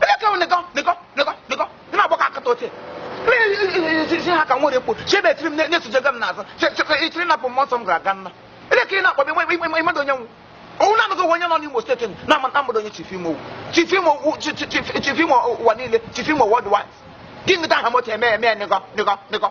Ele ka nịkọ nịkọ nịkọ nịkọ ị na-agba ka akata oche. Isi ha ka nwere ekpo chebe etiri m na-esojega m n'azụ ichiri napụ mmụọ nsọ m gara aga nna. Ele ka ị na-akpọ m ị madị onye m wụ. Ọ wụ naanị gị wụ onye nọ n'Imo steeti na-amadị onye chief imo chief imo chief imo ụwa niile chief imo worldwide. Gịnị ka aha moto eme eme nịkọ nịkọ nịkọ.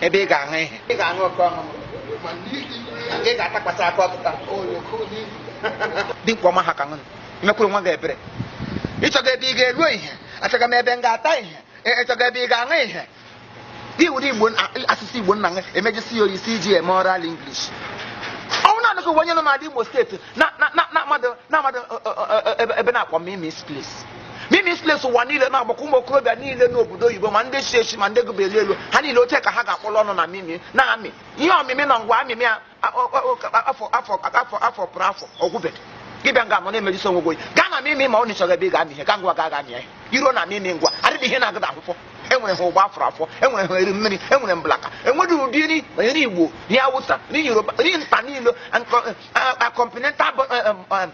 ebe ị ga-ahụ ihe ị ga-ahụ oke ọhụrụ ị ga-atakwasị aka ọtụta dimkpa ọma ha ka ṅụnụ mekwuru nwa gị ebere ịchọga ebe ị ga-elo ihe achọga m ebe m ga-ata ihe ịchọga ebe ị ga-aṅụ ihe gị were igbo asụsụ igbo nna gị emejisi ya oyisi iji eme oral English ọ wụ naanị gị wụ onye nọ n'ala Imo steeti na-amadị ebe a na-akpọ Mimi's Place Mimi's Place ụwa niile na-agbakọ ụmụ okorobịa niile n'obodo oyibo ma ndị si esi ma ndị gụbeli elu ha niile oche ka ha ga-akpọrọ ọnụ na mimi na amị ihe ọmịmị na ngwa amịmị a- a- ọ- ọ- ọ- afọ afọ afọ afọ pụrụ afọ ọ gwụbeghị gị bịa nga anọ na-emerisi onwe gị oyi gaa na mimi ma ọ wụ na ị chọrọ ebe ị ga-amị ihe gaa ngwa gaa ga-amị ihe i ruo na mimi ngwa adịghị ihe na-agụda akwụkwọ enwere ha ụgba afọ afọ enwere ha eri mmiri enwere mblaka enweghị ụdị nri ma nri igbo nri awụsa nri yoruba nri mba niile continental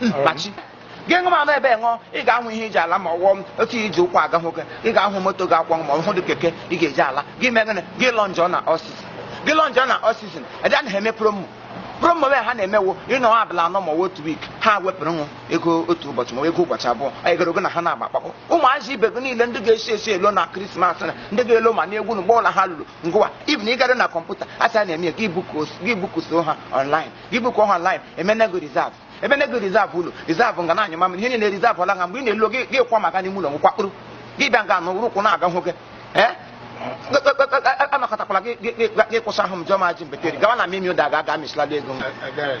mkpachi gị ṅụ mmanya ebe ṅụọ ị ga-ahụ ihe iji ala ma ọwụọ m otu ihe iji ụkwụ aga nwoke ị ga-ahụ moto ga-akwọ ma ọ wụdị keke ị ga-eji ala gị mee gịnị gị lodge na Oxygen gị lodge na Oxygen ede anaghị eme promo promo wee ha na-eme wụ ị nọ abalị anọ ma ọ wụ otu week ha wepụrụ unu ego otu ụbọchị ma ego ụbọchị abụọ anyị gara ogo na ha na-agba akpakpọ ụmụazị ibe gị niile ndị ga-esi esi elo na krismas na ndị ga-elo ma na egwu na ụgbọ ụlọ ha lụrụ ngwa even ị gara na kọmputa asị a na-eme ya gị buku- gị bukuso ha online gị bukuo ha online emene gị reserve emene gị reserve ụlọ reserve nga na-anyụ mamịrị ihe niile reserve ọla ha mgbe ị na-alọ gị gị kwa maka n'ime ụlọ nkwakpụrụ gị bịa nga n'ụrụ ụkwụ na-aga hụ gị ee anakọtakwala gị gị- gị- gị kwụsị ahụ m jụọ m ajị mbetere gawa na mimi ụda ga aga mịsịlala ego m Ebere.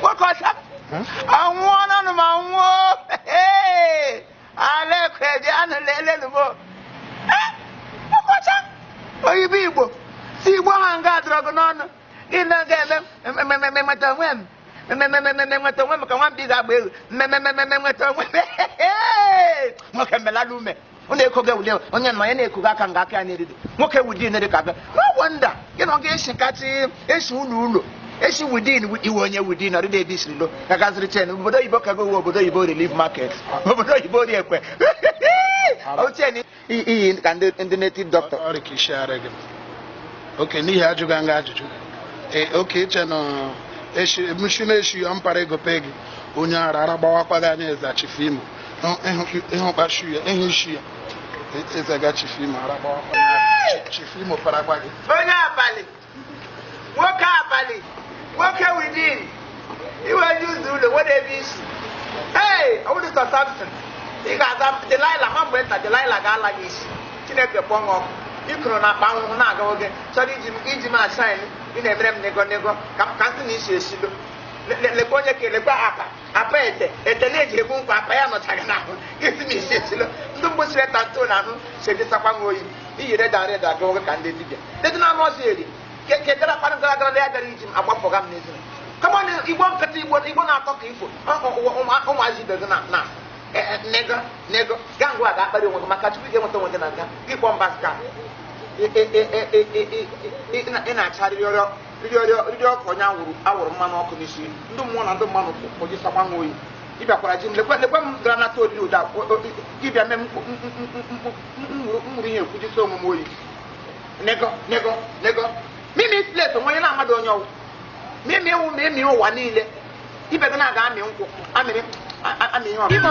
nwoke ọcha anwụọ na m anwụọ Ee, ala ekwe dị anụ lelenu m Eh, nwoke ọcha oyibo igbo si igbo ha nga adọrọ gị n'ọnụ gị na ga-eme mmemme nweta onwe m mmemme nweta onwe m ka nwambi ga-agba egwu mmemme nweta onwe m Ee, nwoke melala ume ọ na-ekoga ewuli ewu. onye nọ ya na-ekoga aka nga aka ya na-eride nwoke wudin dị ka abịa no wonder gị na ọ ga-esi nkapị esi ụlọ ụlọ esi wudin iwe onye wudin ọdịda ebe i siri lọ ka gaziri chen obodo oyibo ka gowe obodo oyibo relief market obodo oyibo Orie Ekwe ochen iyi ka ndị ndị native doctor ọrịa ka isi ara gị okay n'ihi ajụghị nga ajụjụ ee okay i che na eshi mshi na-eshi ya mpara ego pe gị onye ara ara gbawakwa gị anya eza Chief Imo ịhụ kpashu ya ịhụ isi ya ezaga chifu imo ara gbawa chifu imo ara gbaa gị onye abalị nwoke abalị nwoke within iwe ji ụzọ ụlọ nwere ebe isi ee ọ wụdị sọ samson ị ga-aza delila ma mgbe nta delila ga-ala gị isi chineke kpọọ gị ọkụ ikoro na akpa ahụhụ na-aga oge chọrọ iji m iji m a-shine ị na-emere m nego nego ka m ka nsị na-esi esi lo lekwa onye ka lekwa apa apa ete ete e ji egbu nkwụ apa ya nọcha gị n'ahụ nsị na-esi esi lo ndị mgbe siri ta ntụ na ahụ sedịsakwa nwa oyi iyi reda reda gị nwoke ka ndị dibịa dedị na anụ ọzọ eri kedara kpara gara gara ya gara iji m agbapụga m n'ezi kama na igbo nkịta igbo igbo na-atọ ka ifo ụmụazị ibe gị na na nego nego gaa ngwa ga-akparị onwe gị maka chukwu ị ga-enweta onwe gị na nga gị kpọọ mba ska ị na-acharịrị ọrịọ riri ọkụ onye a wụrụ a wụrụ mmanụ ọkụ n'isi ndị mmụọ na ndị mmadụ kpọji sakwa nwa oyi ị bịakwara ji m lekwe lekwe m gara nata oriri ụda ị bịa mee mmụrụ ihe ekwujisi onwe m oyi nego nego nego mimi plate onwe onye na mmadụ onye ọ wụ mimi iwu ma emi ụwa niile ibe gị na-aga amị nkwụ amịrị amị ihe ọbụla